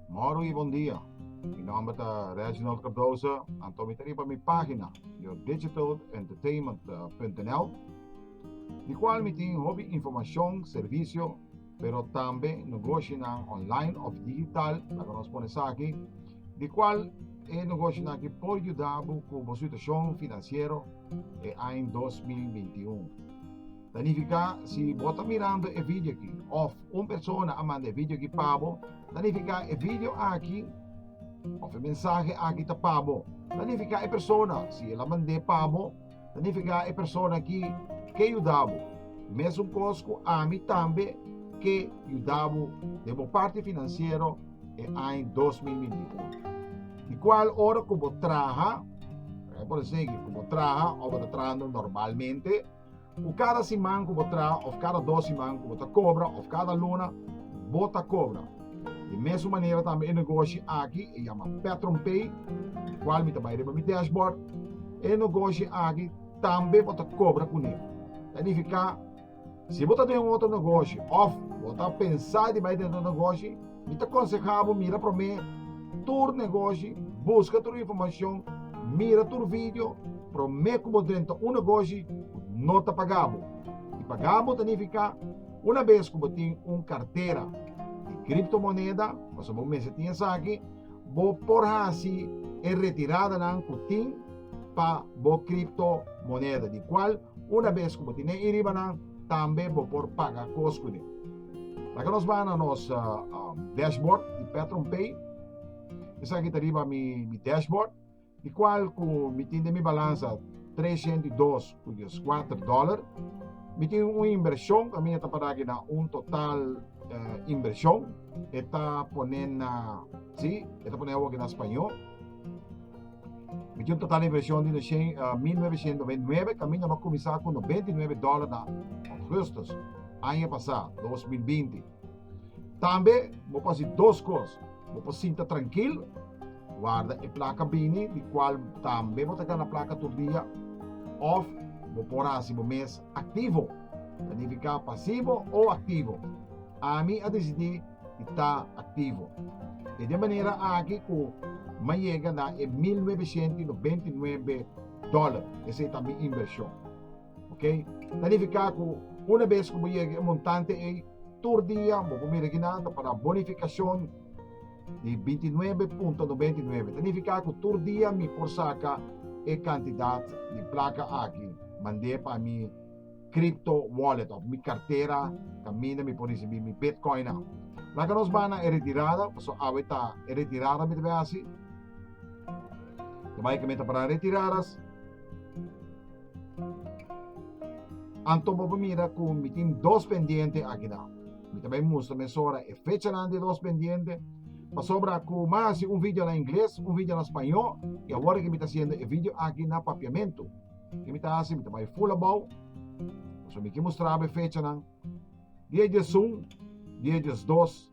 Moro y bon dia. Mi nomber ta Reginald Cardoso, anto mi ta riba mi pagina yourdegitalentertainment.nl di cual mi tin hopi informacion, servicio, pero tambe nogoshinan online of digital, la cu nos pone saki, di cual e nogoshinan aki por yuda bo cu bo situacion financiero e aña 2021. Ta nifica si bo ta mirando e video aki of un persona a manda e video aki pa bo, ta nifica e video aki of e mensahe aki ta pa bo, ta nifica e persona si el a mande pa bo, Ta nifiká e persona ki ke yuda bo, mesun kos ku ami tambe ke yuda bo den bo parti finansiero e aña 2021. Di kual ora ku bo traha, por ehempel a segi, ku bo traha òf bo ta trahando normalmente, ku kada siman ku bo traha òf kada dos siman ku bo ta kobra òf kada luna bo ta kobra, Di mesun manera tambe e negoshi aki e yama PetronPay, di kual mi ta bai riba mi dashboard. E negoshi aki tambe por ta kobra kuné. Ta nifiká si bo ta den un otro negoshi òf bo ta pensá di bai den otro negoshi, mi ta konsehá bo mira promé tur negoshi, buska tur informashon, mira tur video promé ku bo drenta un negoshi ku no ta pagá bo. I pagá bo ta nifiká. Una bes ku bo tin un kartera di kriptomoneda, pasobra bo mester tin esaki, bo por hasi e retiradanan ku tin pa bo kriptomoneda, di kual una bes ku bo tin den iriba nan tambe bo por paga kos kuné. Laga nos baha na nos dashboard di PetronPay. Esaki ta riba mi dashboard. di kual ku mi tin den mi balansa tres shent i dos ku dieskuater dòler. Mi tin un inbershon, kaminda ta pará aki na un total inbershon, e ta pone na, si, e ta pone awor aki na spañó. Mi tin un total inbershon di nocien, mil nuebe shent noventa i nuebe, kaminda mi a kuminsá ku noventa i nuebe dòler na ògùstus aña pasá, dos mil binti. Tambe bo por hasi dos kos, bo por sinta trankil, warda e plaka bini di kual tambe bo ta gana plaka tur dia, òf bo por hasi bo mes aktivo, ta nifiká pasivo o aktivo. Ami a disidí di ta aktivo. E den manera aki ku mi a yega na e mil nuebe shente i noventa i nuebe dòler, esei ta mi inbershon. Oke, planifiká ku una bes ku bo yega e montante ei, tur dia bo por mira ginanta pa na bonifikashon di binti nuebe punto nobenta i nuebe. Planifiká ku tur dia mi por saka e kantidat di plaka aki mand'é pa mi kripto wòlet òf mi kartera kaminda mi por risibí mi bitkoinnan. Laga nos bai na e retirada pasobra awe ta e retirada mi ta bai hasi. Ta bai kaminda ta paran retiradas. Anto bo por mira cu mi tin dos pendiente aki na. Mi ta bay mustra mesora e fechanan di e dos pendiente. Pasobra cu mi a haci un video na Ingles, un video na Spañó y awor que mi ta haciendo e video aki na Papiamento. Ke mi ta haci? Mi ta bay full abao. Pasobra mi ke mustrabo e fechanan. Dia diesun, dia diesdos.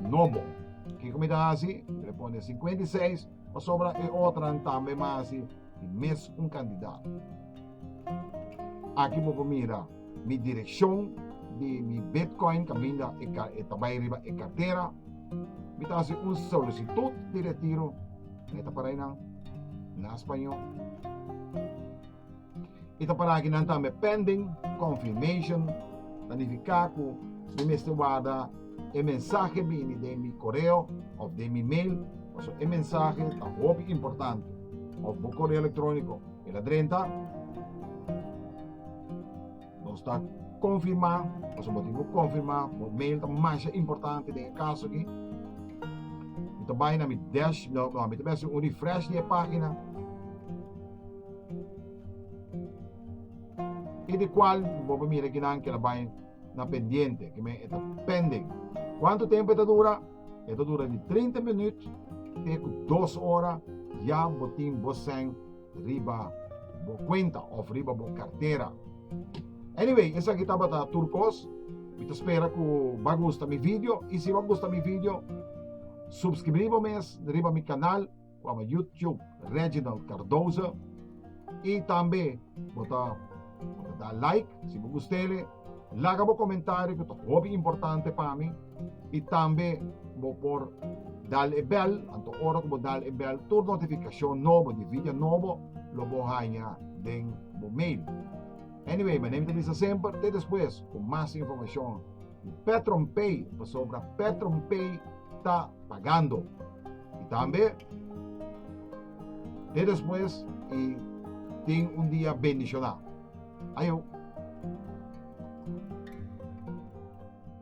No bo. Kiko mi ta hasi? Mi responde, e sinkuenta i seis, pasobra e otranan tambe lo hasi di mes un kandidat. Aki bo por mira mi direkshon di mi bitkoin kaminda e ta bai riba e kartera. Mi ta hasi un solisitut di retiro, meta para einan, na spañó. I ta para aki nan tambe pending confirmation ta nifiká ku mi mester warda e mensahe bini den mi koreo òf den mi mail paso e mensahe ta hopi importante òf bo koreo elektróniko e la drenta. Nos ta konfirmá, pasobra bo tin ku konfirmá, bo mail ta masha importante den e kaso aki. Mi ta bai na mi dash, no, no, mi ta bai hasi un refresh di e página. I di kual bo por mira kinan ke ta bai na pendiente, ke men e ta pending. Kuantu tempu e ta dura? E ta dura di 30 minüt te ku 2 ora, ya bo tin bo sèn riba bo cuenta of riba bo cartera. Anyway, esaki tabata tur cos. Mi ta spera cu ba gusta mi video. Y si ba gusta mi video, subscribí bo mes riba mi canal cu ama YouTube Reginald Cardoza. Y tambe bo ta, bo ta da like si bo gustele. Laga bo comentario cu ta hopi importante pa mi. I tambe bo por dal e bèl, anto ora ku bo dal e bèl tur notifikashon nobo di vidia nobo lo bo haña den bo mail. Anyway, mané mi ta bisa semper, te despues ku mas informashon di PetronPay, pasobra PetronPay ta pagando. I tambe te despues i tin un dia bendishoná. Ayo.